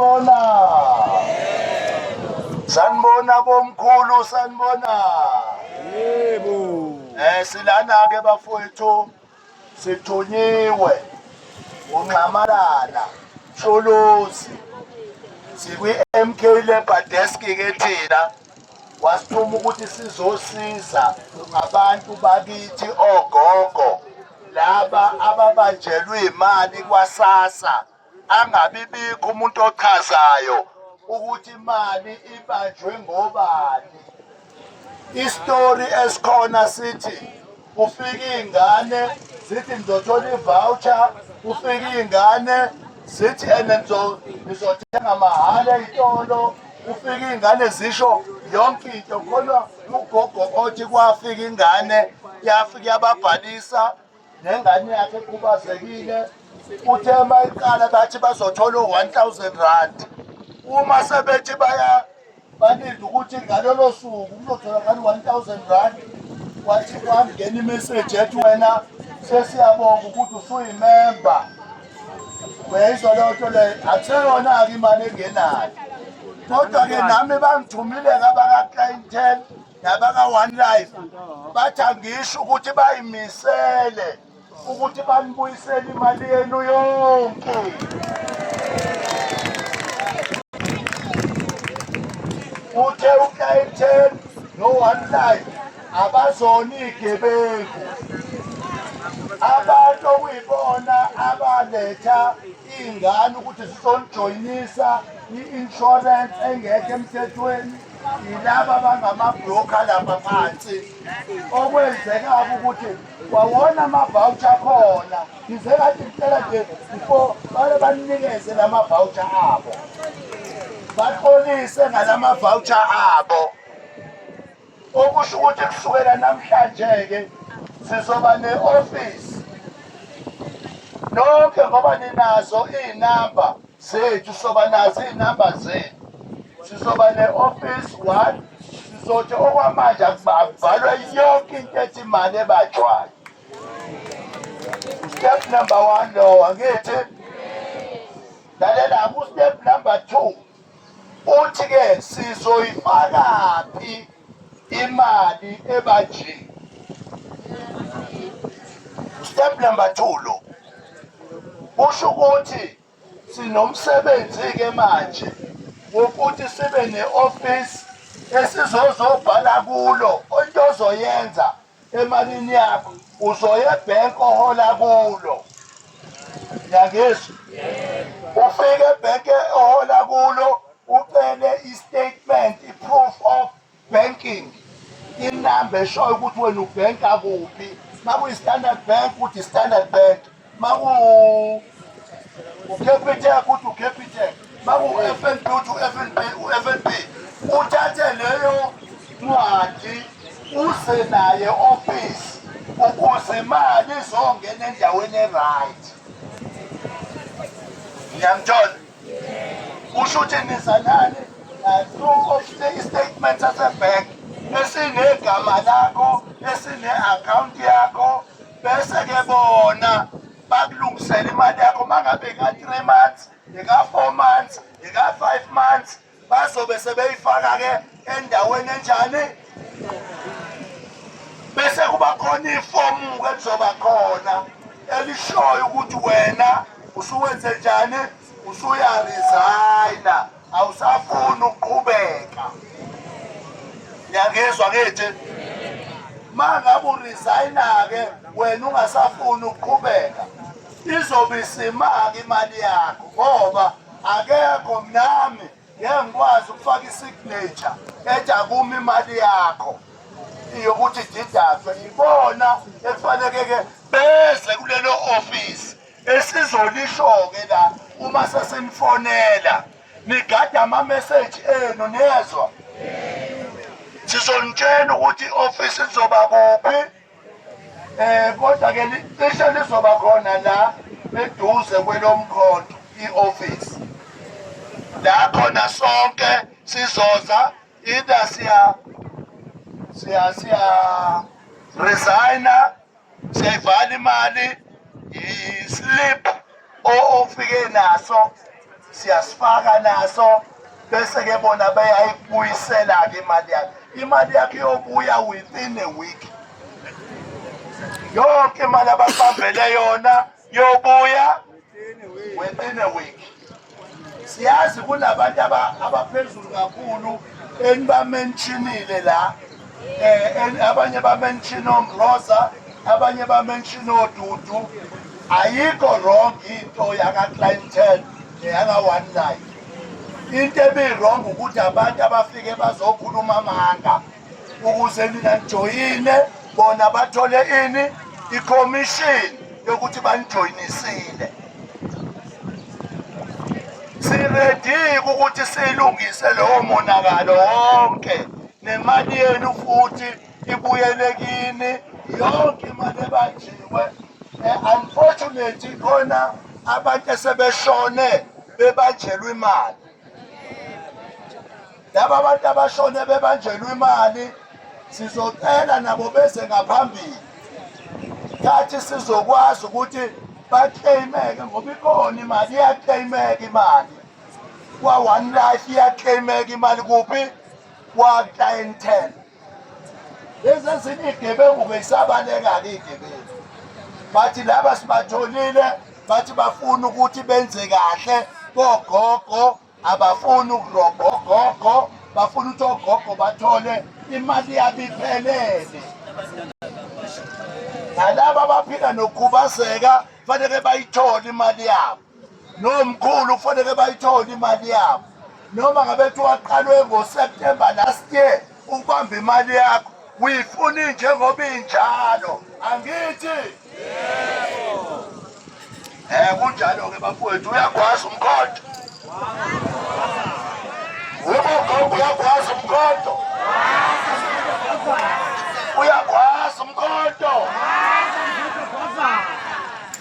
Sanibona. Sanibona bomkhulu sanibona. Yebo. Eh silana ke bafowethu sithunyiwe unxamalala Sholozi sikwi MK Labor Desk ke thina wasithuma ukuthi sizosiza ngabantu bakithi ogogo laba ababanjelwe imali kwasasa angabibikho umuntu ochazayo ukuthi imali ibanjwe ngobani isitori esikhona sithi kufika iy'ngane zithi ngizothola i-voucher kufika iy'ngane zithi ene ngizothenga mahhala ey'tolo kufika iy'ngane zisho yonke into khona ugogo othi kwafika ingane yafika yababhalisa nengane yakhe ekhubazekile uthe uma iqala bathi bazothola u-one thousand rand uma sebethi baya balinde ukuthi ngalolo suku kuzotholakala u-one thousand rand wathi kwangena imeseji ethi wena sesiyabonga ukuthi usuyimemba uyayizwa leyo nto leyo akuseyona-ke imali engenayo kodwa-ke nami bangithumile kabaka-clientele nabaka-one life bathi angisho ukuthi bayimisele ukuthi banibuyisele imali yenu yonke uthe ukaiten no-one life abazona iy'gebengu abantu okuyibona abaletha iy'ngane ukuthi zizonijoyinisa i-insurance engekho emthethweni yilaba bangamabroka lapha phansi okwenzeka ukuthi wawona amavawutsha akhona ngize kathi ngicela nje before bale banikeze la mavawutsha abo baxolise ngala mavawutsha abo okusho ukuthi kusukela namhlanje-ke sizoba ne-ofisi nonke ngoba ninazo iy'namba zethu soba nazo iy'namba zethu sizoba ne-office one sizothi okwamanje akubhalwe yonke into ethi imali ebajwayo step number one lowo angithi lalela kustep number two uthi-ke sizoyifakaphi imali ebajini step number two lo kusho ukuthi Sinomsebenzi-ke manje wokuthi sibe ne-ofisi esizozobhala kulo into ozoyenza emalini yakho uzoya ebhenki ohola kulo yangizwa ufike ebhenki ohola kulo ucele i-statement i-proof of Banking inamba eshoyo ukuthi wena ubhenka kuphi makuyi-standard bank ukuthi standard bank maku ucapital ukuthi ucapital maku-f n b uthi u-f n b u-f n b uthathe leyo ncwadi uze naye ofisi ukuze imali izongena endaweni e-right ngiyamthola kusho ukuthi nizalane naloko i-statement sasebhenki esinegama lakho esine-akhawunti yakho bese-ke bona bakulungisela imali yakho uma ngabe ika-three months ika-four months ika-five months bazobe sebeyifaka-ke endaweni enjani bese kuba khona ifomu-ke lizoba khona elishoyo ukuthi wena usuwenze njani usuyarizayina awusafuni ukuqhubeka niyangizwa ngithi ma ngabe urizayina-ke wena ungasafuni ukuqhubeka izobe isimaka imali yakho ngoba akekho mnami ngeke ngikwazi ukufaka isignature ethi akumi imali yakho yokuthi didaswe ibona ekufanekeke beze kulelo ofisi esizolisho-ke la uma sesinifonela nigade amameseji enu niyezwa sizonitshela ukuthi i-ofisi lizoba kuphi Eh kodwa ke cishe lizoba khona la eduze kwelomkhonto ioffice. La khona sonke sizoza either siya siya siya resigner siyayivala imali yislip ofike naso siyasifaka naso bese ke bona beyayibuyisela ke imali yakhe imali yakhe yobuya within a week yonke imali abasambele yona yobuya within a week siyazi kunabantu abaphezulu kakhulu enibamentshinile la eh abanye ba mention oMroza abanye ba mention oDudu ayikho wrong into yaka clientele neyaka one life into ebiwrong ukuthi abantu abafike bazokhuluma amanga ukuze nina nijoyine bona bathole ini i-commission yokuthi banijoyinisile siredi ukuthi silungise lowo monakalo wonke nemali yenu futhi ibuyele kini yonke imali ebanjiwe eh, unfortunately khona abantu esebeshone bebanjelwe imali laba abantu abashone bebanjelwe imali sizocela nabo beze ngaphambili thathi sizokwazi ukuthi bakleyimeke ngoba ikona imali iyakleyimeka imali kwa-one life iyakleyimeka imali kuphi kwa-clientele lezi ezinye igebengu beyisabaleka-ke igebengu bathi laba sibatholile bathi bafuna ukuthi benze kahle kogogo abafuni ukurobha ogogo bafuna ukuthi ogogo bathole imali yabo iphelele nalaba abaphila nokukhubazeka fanele bayithole imali yabo nomkhulu kufanele bayithole imali yabo noma ngabe kuthiwa waqalwe ngoseptemba last year ukubamba imali yakho uyifuna injengoba injalo angithi um kunjalo-ke bafowethu uyakwazi umkhonto ubogogo uyakwazi umkhonto uyakwazi umkhonto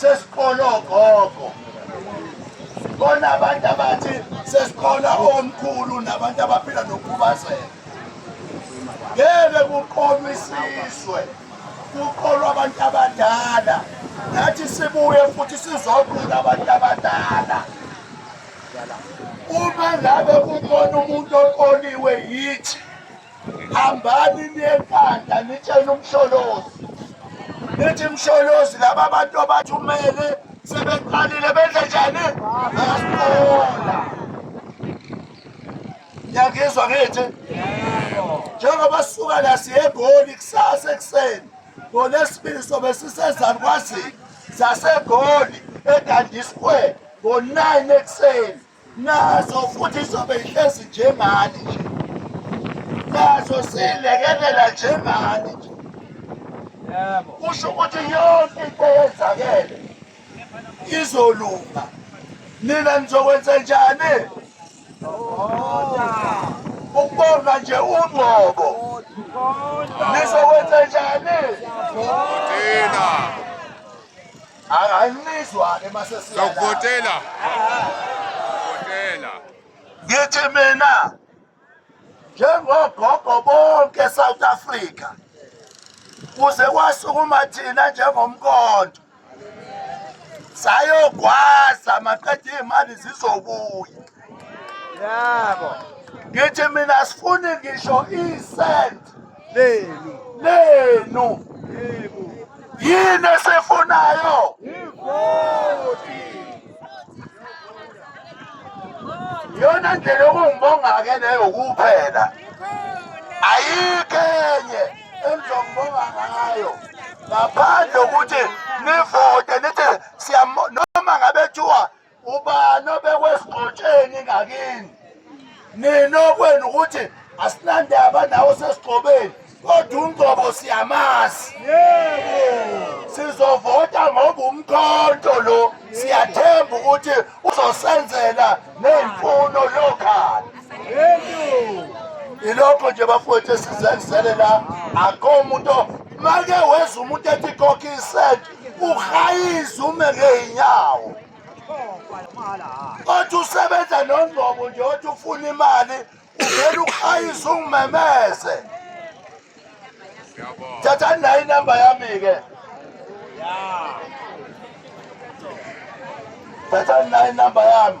sesiqola ogogo kona abantu abathi sesiqola omkhulu nabantu abaphila nokukhubazeka ngeke kuqolwa isizwe kuqolwa abantu abadala nathi sibuye futhi sizoqola abantu abadala uma ngabe kukhona umuntu oqoliwe yithi hambani niyekhanda nitshele umsholozi nithi msholozi laba bantu abathumele sebeqalile benze njani bayasibona yakizwa ngithi njengoba sisuka la siyegoli kusasa ekuseni ngolesibili sobe sisezani kwazini zasegoli edandisquare ngo-9 ekuseni nazo futhi izobe ihlezi njengani nje nazo siyilekelela njengani nje kusho ukuthi yonke into eyenzakele izolunga nina nizokwenza njani ukubonga nje ungqobo nizokwenza njani Anginizwa-ke masesiya. Sokuvotela. Votela. Ngithi mina njengogogo bonke South Africa kuze kwasukuma thina njengomkondo sayogwaza maqeda iy'mali zizobuya yabo ngithi mina sifuni ngisho isent lenu lenu yini esifunayo ivoti yona ndlela yokungibonga-ke leyo kuphela ayikho enye engizongibonga ngayo ngaphandle ukuthi nivote nithi noma ngabe kuthiwa ubani obekwesigxotsheni ngakini nina okwenu ukuthi asinandaba nawo sesigxobeni kodwa umgcobo siyamazi sizovota ngoba umkhonto lo siyathemba ukuthi uzosenzela ney'mfuno yokhani ilokho nje bafowethu esizenzele la akho umuntu make weza umuntu ethi kokisent uhayiza ume ngey'nyawo othi usebenza nongqobo nje othi ufuna imali uvele uhayiza ungimemeze thathani nayo inamba yami-ke thathani nayo inamba yami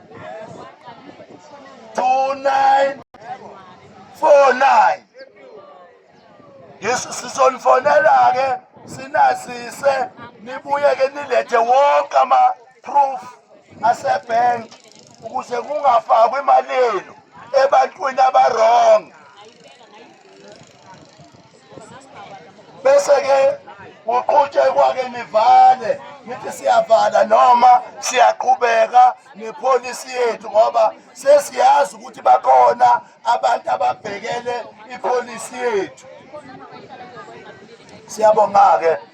2949 sizonifonela-ke sinazise nibuye-ke nilethe wonke ama-proof asebhenki ukuze kungafakwa imali yenu ebantwini abarong bese-ke kuqhutshekwa-ke nivale nithi siyavala noma siyaqhubeka nepholisi yethu ngoba sesiyazi ukuthi bakhona abantu ababhekele ipholisi yethu siyabonga-ke